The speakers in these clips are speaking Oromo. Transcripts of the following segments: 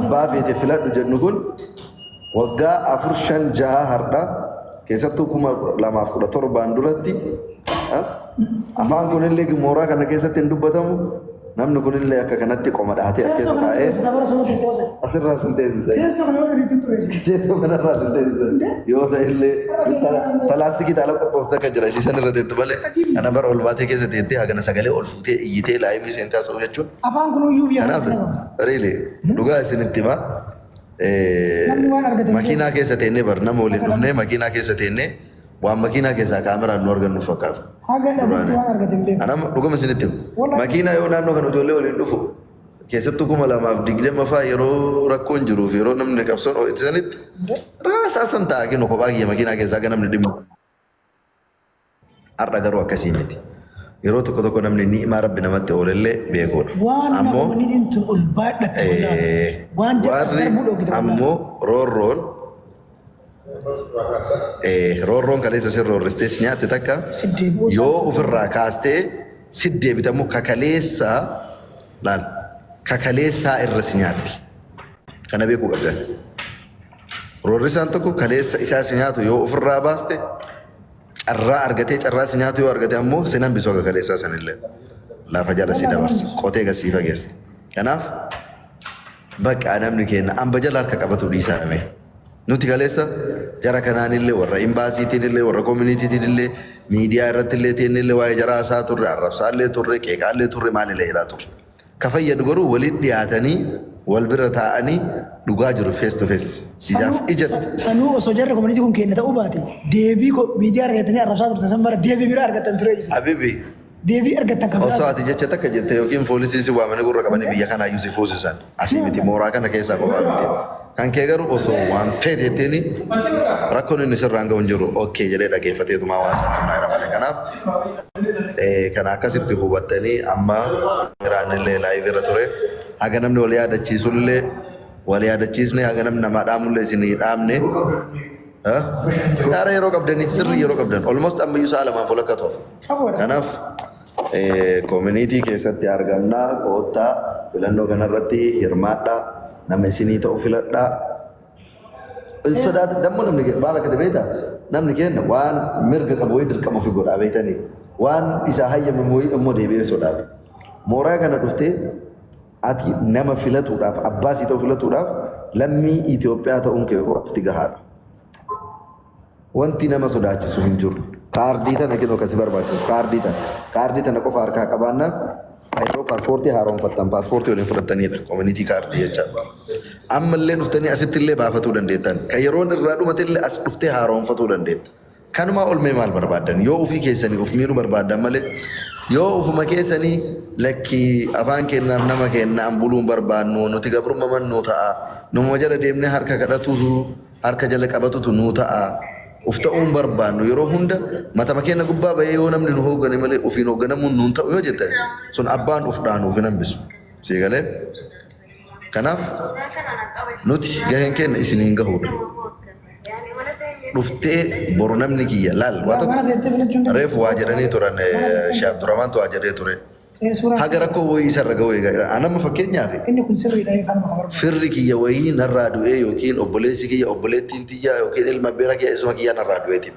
abbaa feete filadhu jedhu kun waggaa afur shan jaha hardha keessattuu kuma lamaaf kudha torbaan duratti afaan kunillee mooraa kana keessatti hin dubbatamu namni kunillee akka kanatti qoma dhahatee as keessa taa'ee asirraa sin teessisa teessoo kanarraa sin teessisa yoo ta'ellee talaastikii taala qophoofte akka jira isiisan irra teettu malee kana bara ol baatee keessa teettee hagana sagalee ol fuutee iyyitee laayimii seentee haasa'u jechuun Afaan kun uyyuu biyya Kanaaf kanatti dhabama. riili dhugaa isinitti hima. Eh, Namni waan argate hin Makiinaa keessa teennee bar nama waliin dhufnee makiinaa keessa teennee waan makiinaa keessaa kaameraan nu argan nuuf fakkaata. Haga dhabutti waan argate hin beeku. Anam dhuguma isinitti hima. Wallahi. Makiinaa yoo naannoo kana ijoollee waliin dhufu keessattuu kuma lamaaf digdama fa'aa yeroo rakkoon jiruu fi yeroo namni qabsoon ho'isanitti raasaa san taa'aa kennu kophaa kiyya makiinaa keessaa akka namni dhimmu. Har'a garuu akkasii miti. Yeroo tokko tokko namni ni'imaa Rabbi namatti oolellee beekuudha. Waan nama Ammoo umaniin tun ol baadhatte eh, wallahi. Waan jedhu as warri darbuu dhoogite wallahi. ammoo roorroon eh, roorroon kaleessa sin roorristee si nyaatte takka Si deebi'uu yoo taasisa. ofirraa kaastee si deebitamu kakaleessaa laal kakaleessaa irra si nyaatti. Kana beekuu qabdan. Roorrisaan tokko kaleessa isaa si nyaatu yoo ofirraa baaste carraa argatee carraa si nyaatu yoo argate ammoo sin hambisuu akka kaleessaa sanillee lafa jala si dabarsa qotee gad sii fageessa. Kanaaf bakka namni keenya amba jala harka qabatu dhiisaa namee. Nuti kaleessa jara kanaanillee warra imbaasiitiinillee warra koominiitiitiinillee miidiyaa irrattillee teennillee waa'ee jaraa isaa turre arrabsaallee turre qeeqaallee turre maalillee jedhaa turre. Ka fayyadu garuu walitti dhiyaatanii wal bira taa'anii dhugaa jiru face to face, ijaaf Sanuu, ijatti. sa- sanuu osoo jarri community kun keenya ta'uu baate deebii ko- miidiyaa irra teettanii arrabsaa turtan san mara deebii biraa argattan ture ibsa. Habibi Deebii argattan kan biraa. osoo ati jecha takka jette yookiin poolisii si waamanii gurra qabanii biyya kanaa iyyuu si fuusisan. Asii miti mooraa kana keessaa qofaa miti. Kan kee garuu osoo waan feete jetteeni rakkoon inni sirraan ga'u hin jiru. Ok jedhee dhageeffateetumaa waan sana himnaa jira malee. Kanaaf eh, kana akkasitti hubattanii amma jiraannillee live irra ture. Haga namni wal yaadachiisullee wal yaadachiisne haga namni namaa dhaamullee isinii dhaamne. Eh? Yaara yeroo qabdanii sirrii yeroo qabdan almost ammayyuu sa'a lamaaf walakkaa tuaf. Kanaaf Koominiitii keessatti argamna. Koottaa filannoo kanarratti hirmaadhaa. Nama isinii ta'u filadhaa. Hin sodaata. Dammoo namni kee- maal akka ta'e beektaa? Namni keenya waan mirga qabu wayii dirqama ofii godhaa beektanii? Waan isaa hayyamamu wayii ammoo deebi'ee sodaata. Mooraa kana dhuftee ati nama filatuudhaaf, abbaa sii ta'u filatuudhaaf lammii Itoophiyaa ta'uun kee qofti gahaadha. Wanti nama sodaachisu hin jiru. Kaardii tana kinoo kan si barbaachisu kaardii tana. Kaardii tana qofa harkaa qabaannaan yeroo paaspoortii haaromfattan paaspoortii waliin fudhattanidha. Koominitii kaardii jecha. Amma illee dhuftanii asitti illee baafatuu dandeettan. Kan yeroon irraa dhumate illee as dhuftee haaromfatuu dandeetta. Kanumaa olmee maal barbaaddan? Yoo ofii keessanii of miidhuu barbaaddan malee yoo ofuma keessanii lakkii afaan keennaaf nama keennaan buluun barbaannu nuti gabrummaman nu ta'a. Numa jala deemnee harka kadhatuutu Harka jala qabatutu nuu ta'a. Uf ta'uu hin barbaannu. Yeroo hunda matama keenya gubbaa ba'ee yoo namni nu hooggane malee ufiin hoogganamuun nuun ta'u yoo jette sun abbaan uf dhaanu uf hin hambisu. Sii galee? Kanaaf nuti gaheen keenya isiniin gahuudha. Dhuftee boru namni kiyya laal waa tokko reefu waa jedhanii turan Sheekh Abdurrahmaantu waa jedhee ture. haga rakkoo wayii isarra ga'u eegaa jira. An amma fakkeenyaaf Inni kun sirriidha yoo kanuma kan barbaadu. firri kiyya wayii narraa du'ee yookiin obboleessi kiyya obboleettiin tiyya yookiin ilma beera kiyya isuma kiyyaa narraa du'eetiin.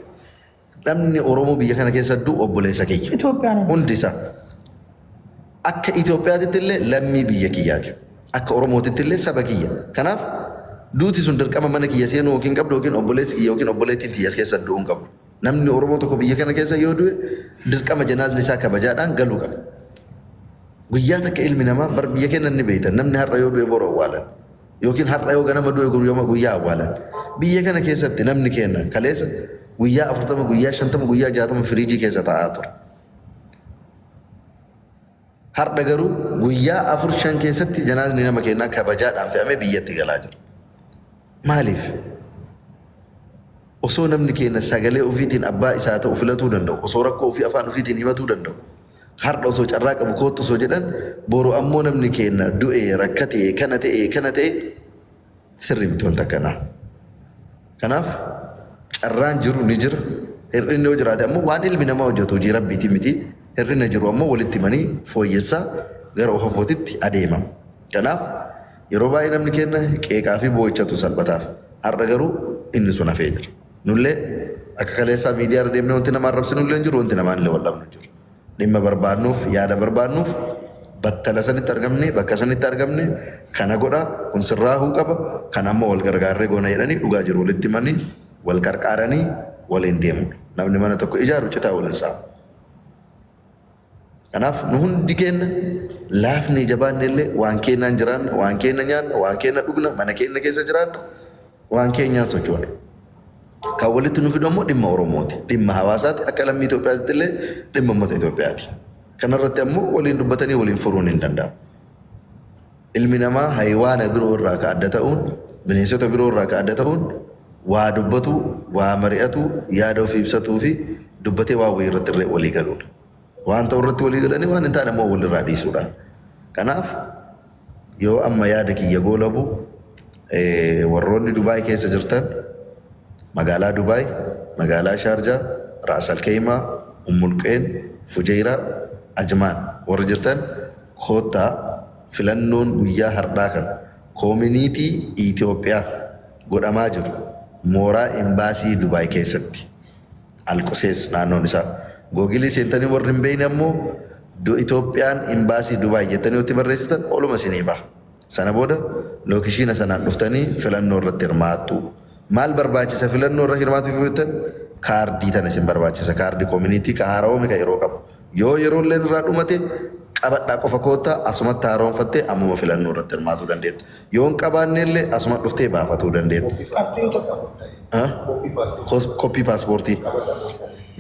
Namni Oromoo biyya kana keessa du'u obboleessa kiyya. Itoophiyaan hundi. Hundi isaa. Akka Itoophiyaatitti illee lammii biyya kiyyaati. Akka Oromootitti illee saba kiyya. Kanaaf duuti sun dirqama mana kiyya seenuu yookiin qabdu yookiin obboleessi kiyya yookiin obboleettiin tiyya as keessa du'uu hin qabdu. Namni Oromoo tokko biyya kana keessa yoo du'e dirqama janaazni isaa kabajaadhaan galuu qaba. Guyyaa takka ilmi namaa bar biyya keenya ni beektan namni har'a yoo du'e boru awwaalan yookiin har'a yoo ganama du'e guyyama guyyaa awwaalan. Biyya kana keessatti namni keenya kaleessa guyyaa afurtama guyyaa shantama guyyaa jaatama firiijii keessa taa'aa ture. Hardha garuu guyyaa afur shan keessatti janaazni nama keenyaa kabajaadhaan fe'amee biyyatti galaa jira. Maaliif? Osoo namni keenya sagalee ofiitiin abbaa isaa ta'u filatuu danda'u, osoo rakkoo ofii afaan ofiitiin himatuu danda'u, hardha osoo carraa qabu koottu osoo jedhan, boru ammoo namni keenya du'ee, rakkatee, kana ta'ee, kana ta'e sirrii miti wanta akkanaa. Kanaaf carraan jiru ni jira. Hir'inni yoo jiraate ammoo waan ilmi namaa hojjetu hojii rabbiitii miti. Hir'ina jiru ammoo walitti himanii fooyyessaa gara ofafootitti adeema. Kanaaf yeroo baay'ee namni keenya qeeqaa fi boo'ichatu salphataaf. Har'a garuu inni sun hafee jira. Nullee akka kaleessaa miidiyaa irra deemnee wanti nama arrabsinullee hin jiru, wanti namaan illee wal dhabnu hin jiru. Dhimma barbaadnuuf, yaada barbaadnuuf battala sanitti argamne, bakka sanitti argamne kana godha, kun sirraahuu qaba, kana ammoo wal gargaarree goona jedhanii dhugaa jiru walitti himanii, wal qarqaaranii waliin deemuudha. Namni mana tokko ijaaru citaa wal hin saamu. Kanaaf nu hundi keenna laafnee jabaanne illee waan keennaan jiraanna, waan keenna nyaanna, waan keenna dhugna, mana keenna keessa jiraanna, waan keenyaan sochoona. Kan walitti nu fidu ammoo dhimma Oromooti. Dhimma hawaasaati. Akka lammii Itoophiyaatti illee dhimma uummata Itoophiyaati. Kanarratti ammoo waliin dubbatanii waliin furuun hin danda'amu. Ilmi namaa hayiwaana biroo irraa ka adda ta'uun, bineensota biroo irraa ka adda ta'uun waa dubbatu, waa mari'atu, yaada ofii ibsatuu fi dubbatee waan wayii irratti irra walii galuudha. Waan ta'u irratti walii galanii waan hin taane ammoo walirraa dhiisuudha. Kanaaf Yoo amma yaada kiyya goolabu warroonni Dubaay keessa jirtan magaalaa Dubaay, magaalaa Shaarjaa, Raas Alkeeyimaa, Ummulqeen, Fujeyraa, Ajmaan warri jirtan koottaa filannoon guyyaa hardhaa kan koominiitii Itiyoophiyaaf godhamaa jiru mooraa Imbaasii Dubaay keessatti. Alqusees naannoon isaa. Googilii seentanii warri hin beekne ammoo do Itoophiyaan imbaasii Dubaay jettanii yoo itti barreessitan oluma isinii baha. Sana booda lookishiina sanaan dhuftanii filannoo irratti hirmaattu. Maal barbaachisa filannoo irra hirmaatuuf yoo jettan kaardii tana isin barbaachisa. Kaardii kominiitii ka haarawame ka yeroo qabu. Yoo yeroolleen irraa dhumate qabadhaa qofa koottaa asumatti haaromfattee ammuma filannoo irratti hirmaatuu dandeetta. Yoo hin qabaanneellee asuma dhuftee baafatuu dandeetta. Koppii kaartii hin qabu. Koppii paaspoortii.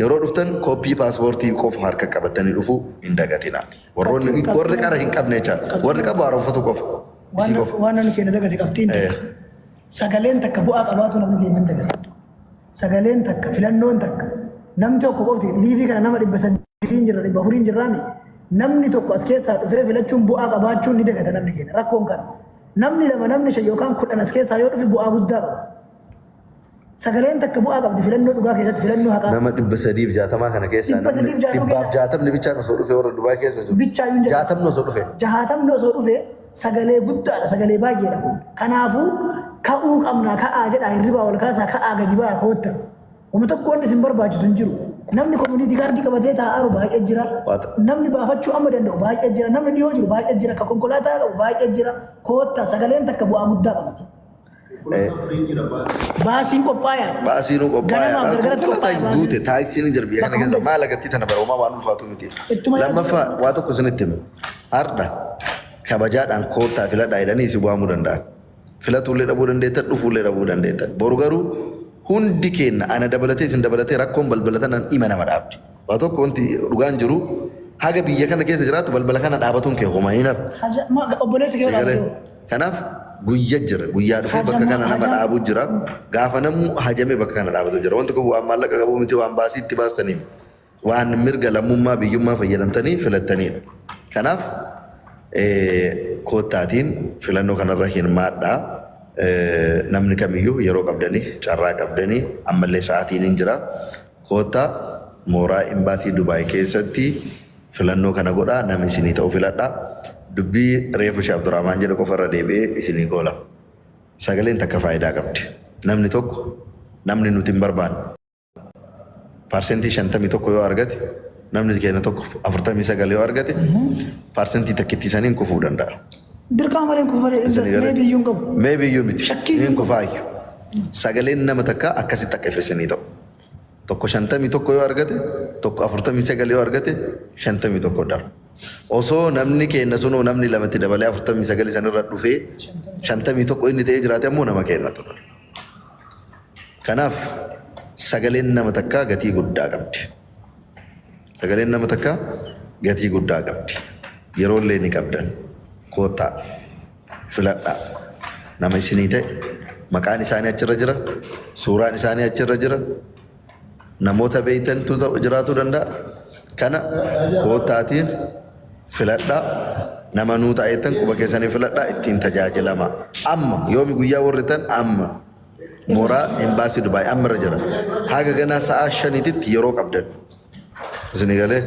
Yeroo dhuftan koppii paaspoortii qofa harka qabattanii dhufuu hin dagatinaa. Warroonni warri qara hin qabne jecha warri qabu haaromfatuu qofa. Isii qofa. Waan namni keenya dagate qabxiin takka. Sagaleen takka bu'aa qabaatu namni keenya hin dagate. sagaleen takka filannoon takka namni tokko qofti liivii kana nama dhibba sadiin jirra dhibba afuriin jirraami namni tokko as keessaa dhufee filachuun bu'aa qabaachuun ni dagata namni keenya rakkoon kana namni lama namni shan yookaan kudhan as keessaa yoo dhufe bu'aa guddaa qaba. Sagaleen takka bu'aa qabdi filannoo dhugaa keessatti filannoo haqaa. Nama dhibba sadiif jaatamaa kana keessaa Dhibba namni sadiif jaatama dhibbaaf keessaa- jaatamni bichaan osoo dhufe warra Dubaay keessa jiru. Bichaa hin jedhamu. Jaatamni osoo dhufe. Jaatamni osoo dhufe Sagalee guddaadha, sagalee baay'eedha kun. Kanaafuu ka'uu qabnaa ka'aa jedhaa hirribaa wal kaasaa ka'aa gadi ba'aa kootta. Wama tokko wanni isin barbaachisu hin jiru. Namni komuniitii kaardii qabatee taa'aaru baay'ee jira. Waata. Namni baafachuu amma danda'u baay'ee jira. Namni dhiyoo jiru baay'ee jira. Ka konkolaataa qabu baay'ee jira. Kootta sagaleen takka bu'aa guddaa qabdi. Baasiin qophaa'e. Baasii nu qophaa'e. Ganama Rakkoo gargaratti konkolaataa qophaa'e hin baasiin. guute taaksii ni jirbi kana keessa maal agartii tana bara homaa waan ulfaatu miti. Ittuma yaadu. Lammaffaa waa tokko isinitti himu. Hardha kabajaadhaan koottaa filadhaa jedhanii isin waamuu danda'an. Filatuullee dhabuu dandeettan dhufuullee dhabuu dandeettan. Boru garuu hundi keenya ana dabalatee isin dabalatee rakkoon balbalatan hima nama dhaabdi. Waa tokko wanti dhugaan jiru haga biyya kana keessa jiraatu balbala kana dhaabatuun kee homaa hin hafu. Haja ma obboleessi kee Sagalee. dhaabatu. Kanaaf guyya jira. Guyyaa dhufee bakka Hajama- kana nama hajama- dhaabuu jira. Gaafa namuu hajamee bakka kana dhaabatu jira. Wanti kun waan maallaqa qabu miti waan baasii itti baastanii miti. Waan mirga lammummaa biyyummaa fayyadamtanii filattaniidha. Kanaaf eh, koottaatiin filannoo kanarra hirmaadhaa. Eh, Namni kamiyyuu yeroo qabdanii carraa qabdanii ammallee sa'aatiin hin jira. Koottaa mooraa Imbaasii Dubai keessatti filannoo kana godhaa nama isinii ta'u filadhaa. Dubbii reefu Sheh Abdurahmaan jedhe qofa irra deebi'ee isinii goolama. Sagaleen takka faayidaa qabdi. Namni tokko namni nuti hin barbaanne parsentii 51 yoo argate namni keenya tokko 49 yoo argate parsentii takkittii saniin kufuu danda'a. Dirqaa malee kufa malee Isinii galee? meebii iyyuu hin qabu. Meebii iyyuu miti. Shakkii Hin iyyuu. kufaayyu. Sagaleen nama takka akkasitti akka ifa isinii ta'u. Tokko 51 yoo argate, tokko 49 yoo argate 51 dha. Osoo namni keenna sunuu namni lamatti dabalee 49 sanirra dhufee 51 inni ta'ee jiraate ammoo nama keenna ture. Kanaaf sagaleen nama takkaa gatii guddaa qabdi. Sagaleen nama takkaa gatii guddaa qabdi. Yeroollee ni qabdan. Koottaa. filadhaa. Nama isinii ta'e maqaan isaanii achirra jira, suuraan isaanii achirra jira, namoota beektantu ta'u- jiraachuu danda'a. Kana koottaatiin filadhaa. Nama nuu ta'a jettan quba keessanii filadhaa ittiin tajaajilamaa. Amma yoomi guyyaa warri tan amma mooraa embaasii Dubaay amma irra jira. Haga ganaa sa'aa shaniititti yeroo qabdan. Isinii galee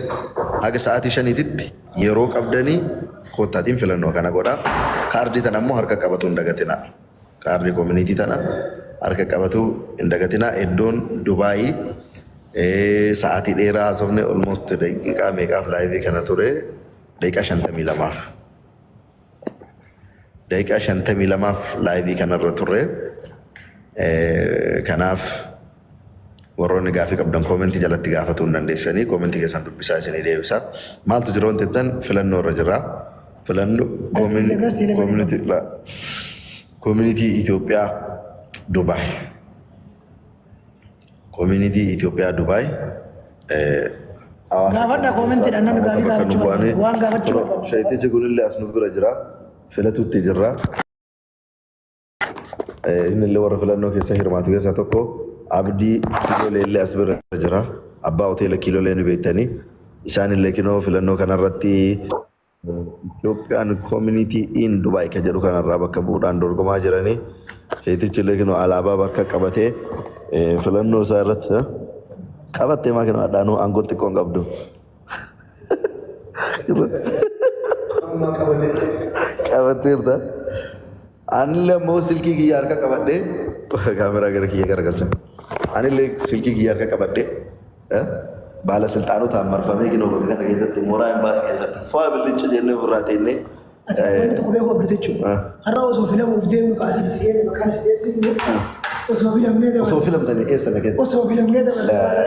haga sa'aatii shaniititti yeroo qabdanii koottaatiin filannoo kana godhaa. Kaardii tana ammoo harka qabatuu hin dagatinaa. Kaardii koominiitii tana harka qabatuu hin dagatinaa. Iddoon Dubaayii sa'aatii dheeraa haasofne almost daqiiqaa meeqaaf laayivii kana ture daqiiqaa shantamii lamaaf. Daqiiqaa 52f laayivii kanarra turre. Kanaaf warroonni gaafii qabdan koomentii jalatti gaafatuu hin dandeessanii koomentii keessan dubbisaa isinii deebisa. Maaltu jira wanti jettan filannoo irra jira. Filannoo koomunitii Itoophiyaa Dubaay. Community Ethiopia Dubai. Gaafadha koomentiidha namni gaaffii gaafachuu barbaadu. Waan gaafachuu barbaadu. Shayitichi kunillee as nu bira jira. Filatutti jirra. Innillee warra filannoo keessa hirmaatu keessaa tokko Abdii Kiilolee illee as bira jira. Abbaa hoteela Kiilolee ni beektanii. Isaanillee kinoo filannoo kanarratti Itoophiyaan Koomunitii in Dubaay kan jedhu kanarraa bakka bu'uudhaan dorgomaa jiranii seetichi illee kinoo alaabaa bakka qabatee filannoo isaa irratti qabattee maa kinoo adhaanuu aangoo xiqqoo hin qabdu. Qabatteerta. Anillee ammoo silkii kiyya harka qabadhee kaameraa gara kiyya garagalcha. Anillee silkii kiyya harka qabadhee eh, baala silxaanotaan marfamee kinoo bakka kana keessatti mooraa imbaasii keessatti faa billicha jennee ofirraa teennee Ati eh, wanti tokko beekuu qabdu jechuudha. Ah. Har'a osoo filamuuf deemnu ka asii si eege maqaan si eegsifnu osoo filamnee osoo dabarre. filamtanii eessa na kenna? Osoo filamnee dabarre.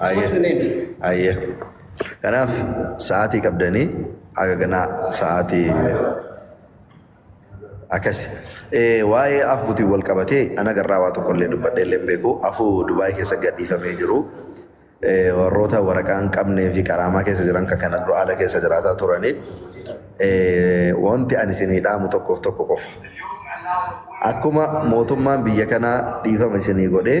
It's what's the name? Ayyee. Kanaaf sa'aatii qabdanii haga ganaa sa'aatii akkasi. Eh, Waa'ee afuutiin wal qabatee ana garraa waa tokko illee dubbadhee illee hin beeku. Afuu Dubaay keessa gadhiifamee jiru. Eh, Warroota waraqaa hin qabnee fi qaraamaa keessa jiran kan kana dura haala keessa jiraataa turanii. Eh, Wanti ani isinii dhaamu tokkoof tokko qofa. Akkuma mootummaan biyya kanaa dhiifama isinii godhee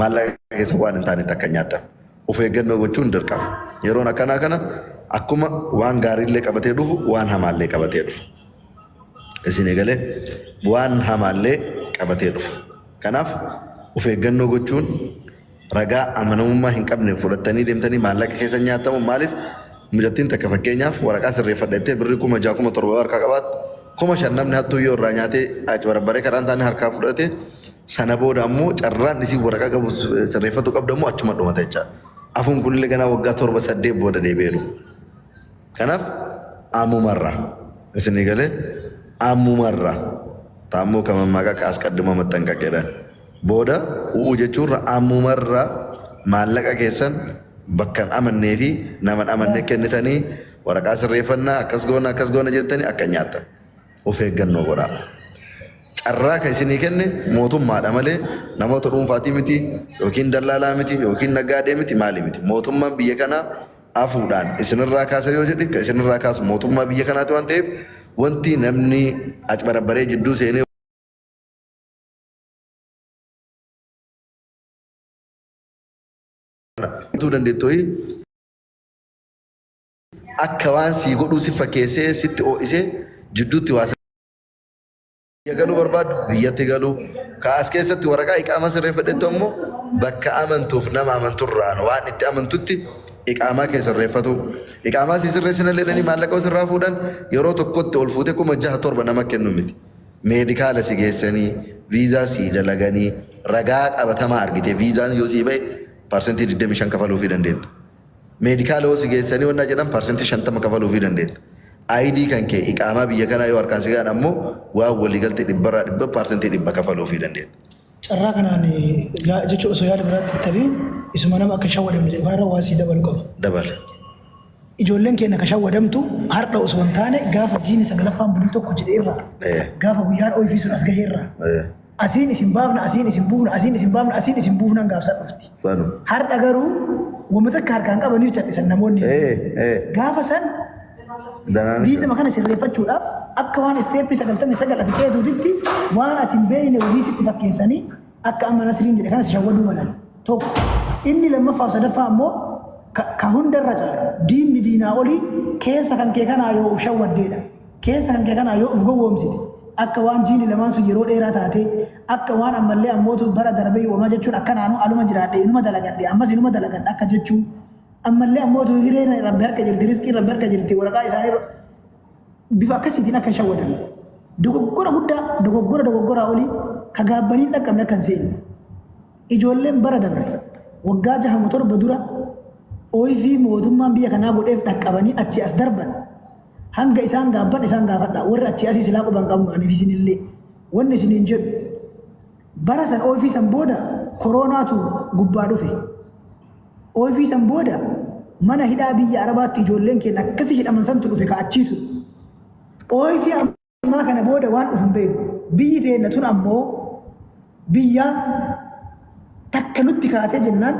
maallaqa keessa waan hin taanetti akka nyaatan of eeggannoo gochuun dirqama. Yeroon akkanaa kana akkuma waan gaariillee qabatee dhufu waan hamaallee qabatee dhufa. Isin eegalee waan hamaallee qabatee dhufa. Kanaaf of eeggannoo gochuun ragaa amanamummaa hin qabneen fudhattanii deemtanii maallaqa keessa nyaatamu maaliif Mucattiin takka fakkeenyaaf waraqaa sirreeffadha jettee birrii kuma ja'a kuma torba yoo harkaa qabaatte kuma shan namni hattuu yoo irraa nyaatee acbarabbaree kadhaan taane harkaa fudhate sana booda ammoo carraan isiin waraqaa qabu sirreeffatu qabda ammoo achuma dhumata jecha. Afuun kunillee ganaa waggaa torba saddeet booda deebi'ee dhufu. Kanaaf ammumarraa isinii galee ammumarraa taammoo kan mammaaqa akka asqaddimoo maxxanqaqedha. Booda u'uu jechuurra ammumarra maallaqa keessan bakka hin amannee fi nama hin amanne kennitanii waraqaa sirreeffannaa akkas goona akkas goona jettanii akka hin nyaattan. Of eeggannoo godhaa. Carraa kan isinii kenne mootummaadha malee namoota dhuunfaatii miti yookiin dallaalaa miti yookiin naggaadee miti maali miti. Mootummaan biyya kanaa afuudhaan isinirraa kaasa yoo jedhe kan isinirraa kaasu mootummaa biyya kanaati waan ta'eef wanti namni acbarabbaree jidduu seenee akka waan sii godhuu si fakkeessee sitti oo'isee jidduutti waa biyya galuu barbaadu biyyatti galuu kaas keessatti waraqaa iqaamaa sirreeffadhettu ammoo bakka amantuuf nama amanturraan waan itti amantutti iqaamaa kee sirreeffatu iqaamaa sii sirreessinallee jedhanii maallaqa sirraa fuudhan yeroo tokkotti ol fuutee kuma jaha torba nama kennu miti. Meedikaala si geessanii, viizaa sii dalaganii, ragaa qabatamaa argitee viizaan yoo sii bahe parsantii 25 kafaluufii dandeetta. Meedikaala yoo si geessanii wannaa jedhan parsantii 50 kafaluufii dandeetta. ID kan kee iqaamaa biyya kanaa yoo harkaan si gahan ammoo waan waliigalte dhibbarraa dhibba parsantii dhibba kafaluufii dandeetta. Carraa kanaan jechuun osoo yaada biraatti hin tabiin isuma nama akka shawwadamne jedhu kanarra waan sii dabalu qaba. Dabala. Ijoolleen keenya akka shawwadamtu har'a osoo hin taane gaafa jiini saglaffaan bulii tokko jedhe irraa Eh. gaafa guyyaan ooyifii sun as gahe irraa Eh. asiin isin baafna asiin isin buufna asiin isin baafna asiin isin buufnaan gaafsa dhufti. Sanu. Har'a garuu wama takka harkaan qabanii callisan namoonni. Eh, eh. Gaafa san Danaan. biizama kana sirreeffachuudhaaf akka waan isteeppii sagaltamii sagal ati ceetuutitti waan ati hin beekne hojii sitti fakkeessanii akka amma nasiriin jedhe kanas shawwaduu malan. Tokko inni lammaffaaf sadaffaa ammoo ka ka hundarra caalu diinni diinaa olii keessa kan kee kanaa yoo of shawwaddeedha. Keessa kan kee kanaa yoo of gowwoomsite, akka waan jiini lamaan sun yeroo dheeraa taatee, akka waan ammallee ammootu bara darbeyyu homaa jechuun akkanaanuu anuma jiraadhe, inuma dalagadhe, ammas inuma dalagadha akka jechuu, ammallee ammootu hireen Rabbi harka jirti, rizqiin Rabbi harka jirti, waraqaa isaanii bifa akkasiitiin akka hin shawwadamne. Dogoggora guddaa, dogoggora dogoggoraa olii ka gaabbanii hin dhaqqabne akka hin seenne. Ijoolleen bara dabre waggaa jaha moo torba dura ooyifii mootummaan biyya kanaa godheef dhaqqabanii achi as darban Hanga isaan gaabban isaan gaafadhaa. Warri achii asii silaa quba hin qabnu aniif isinillee. Wanni isiniin jedhu bara san oofii san booda koroonaatu gubbaa dhufe. Oofii san booda mana hidhaa biyya Arabaatti ijoolleen keenya akkasi hidhaman santu dhufe ka achii sun. Oofii ammaa kana booda waan dhufu hin beeknu. Biyyi teenna tun ammoo biyya takka nutti kaatee jennaan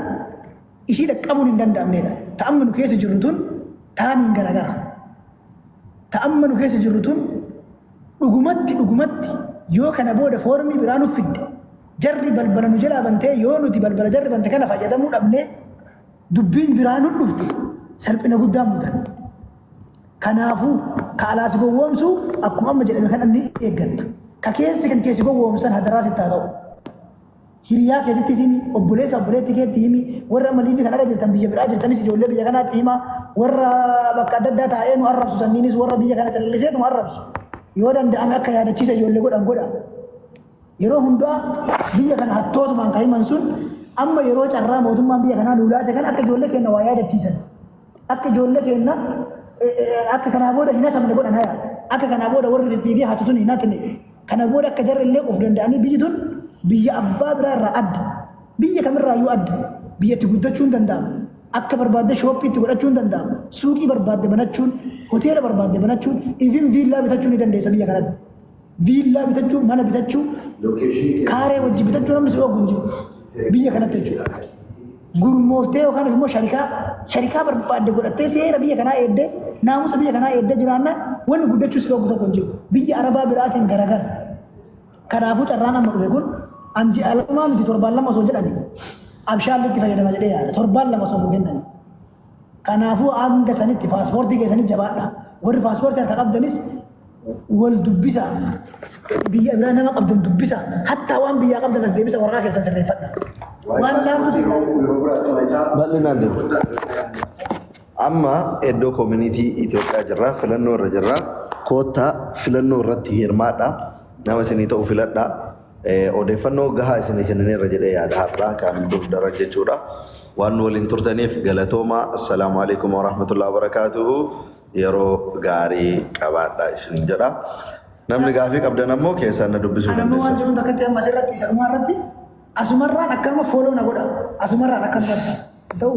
ishii dhaqqabuun hin danda'amneedha. Ta amma nu keessa jirru tun taaniin garagara. Ta amma nu keessa jirru tun dhugumatti dhugumatti yoo kana booda foormii biraa nuuf fidde jarri balbala nu jalaa bantee yoo nuti balbala jarri bante kana fayyadamuu dhabnee Dubbiin biraa nu dhufte salphina guddaan mudanne. Kanaafuu ka alaa si gowwoomsu akkuma amma jedhame kana ni eeggatta. Ka keessi kan keessi gowwoomsan hadaraa sitti haa ta'u. Hiriyaa keetittis himi, obboleessa obboleetti keetti himi, warra amma liivii kanarra jirtan biyya biraa jirtanis ijoollee biyya kanaatti hima, warra bakka adda addaa taa'ee nu arrabsu sanniinis warra biyya kana calliseetuma arrabsu. Yoo danda'ame akka yaadachiisa ijoollee godhan godha. Yeroo hundaa biyya kana hattootumaan kan himan sun amma yeroo carraa mootummaan biyya kanaa nuu laate kana akka ijoollee keenya waa yaadachiisan akka ijoollee keenya akka kanaa booda hin hatamne godhan haya akka kanaa booda warri fiffiigee hatu sun hin hatne kana booda akka jarri illee of danda'anii biyyi tun biyya abbaa biraa irraa adda biyya kamirraa iyyuu adda biyyatti guddachuu hin danda'amu akka barbaadde shooppii itti godhachuu hin danda'amu suuqii barbaadde banachuun hoteela barbaadde banachuun ifin viillaa bitachuu ni dandeessa biyya kanatti. viillaa bitachuu, mana bitachuu, kaaree wajjin bitachuu namni si dhoogu hin jiru. Biyya kanatti jechuudha. Gurmooftee yookaan immoo sharikaa sharikaa barbaadde godhattee seera biyya kanaa eeddee naamusa biyya kanaa eeddee jiraannaan wanni guddachuu si dhoogu tokko hin jiru. Biyya Arabaa biraatiin garagara. Kanaafuu carraan amma dhufe kun anji alamaa miti torbaan lama osoo jedhani abshaalli itti fayyadama jedhee yaada. Torbaan lama osoo nuu kennani. Kanaafuu hanga sanitti paaspoortii keessanii jabaadhaa. Warri paaspoortii harka qabdanis wal dubbisa. Biyya biraa nama qabdan dubbisa. Hattaa waan biyyaa qabdan as deebisa waraqaa keessan sirreeffadha. Waan laafuu fi Bal'inaan deemu. Amma iddoo koomunitii Itoophiyaa jirra, filannoo irra jirra. Koottaa filannoo irratti hirmaadha. Nama isinii ta'u filadhaa. Odeeffannoo gahaa isinii kennineerra jedhee yaada har'aa kan dur daran jechuudha. Waan nu waliin turtaniif galatoomaa. Assalaamu alaikum warahmatullahi wabarakaatuhu. Yeroo gaarii qabaadhaa isiniin jedha. Namni gaafii qabdan ammoo keessaan na dubbisuu Anammoo waan dandeessan. jiruun takkatti amma asirratti isa dhumaa irratti asumarraan akkanuma fooloo na godha. Asumarraan akkanumatti. Hin ta'u.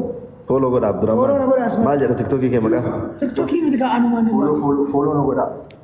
Fooloo godha Fooloo na godha, Abdurrahmaan. asuma. Maal jedha tiktookii kee maqaa? Tiktokii miti kaa anumaan. Fooloo fooloo fooloo na godhaa.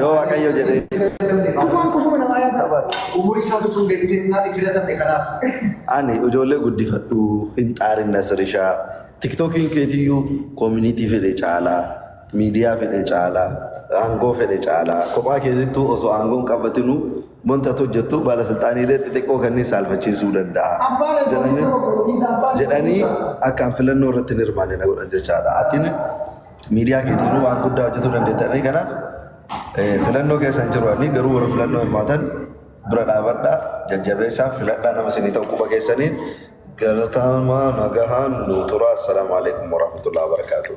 Yoo Waaqayyo jedhee. Afaan kufuma namaa yaada barbaada. Umurii isaa tutuun deebitee innaan hin filatamne kanaaf. Ani ijoollee guddifadhu hin xaarin Nasirishaa. Tiktookiin keetiyyuu koominiitii fedhe caalaa, miidiyaa fedhe caalaa, aangoo fedhe caalaa. Kophaa keessattuu osoo aangoon qabatinu wanta ati hojjettu baala silxaaniilee xixiqqoo kanneen saalfachiisuu danda'a. Abbaan abbaa Jedhanii- abbaa abbaa jedhanii akkaan filannoo irratti hin hirmaanne na godhan jechaadha. Atiin miidiyaa keetiinuu waan guddaa hojjetuu dandeettanii kanaaf filannoo keessan jiru ani garuu warra filannoo hirmaatan bira dhaabadha jajjabeessaa filadhaa nama isinii ta'u quba keessaniin galatamaa nagahaan nuu turaa assalaamu alaikum warahmatullahi wabarakaatuh.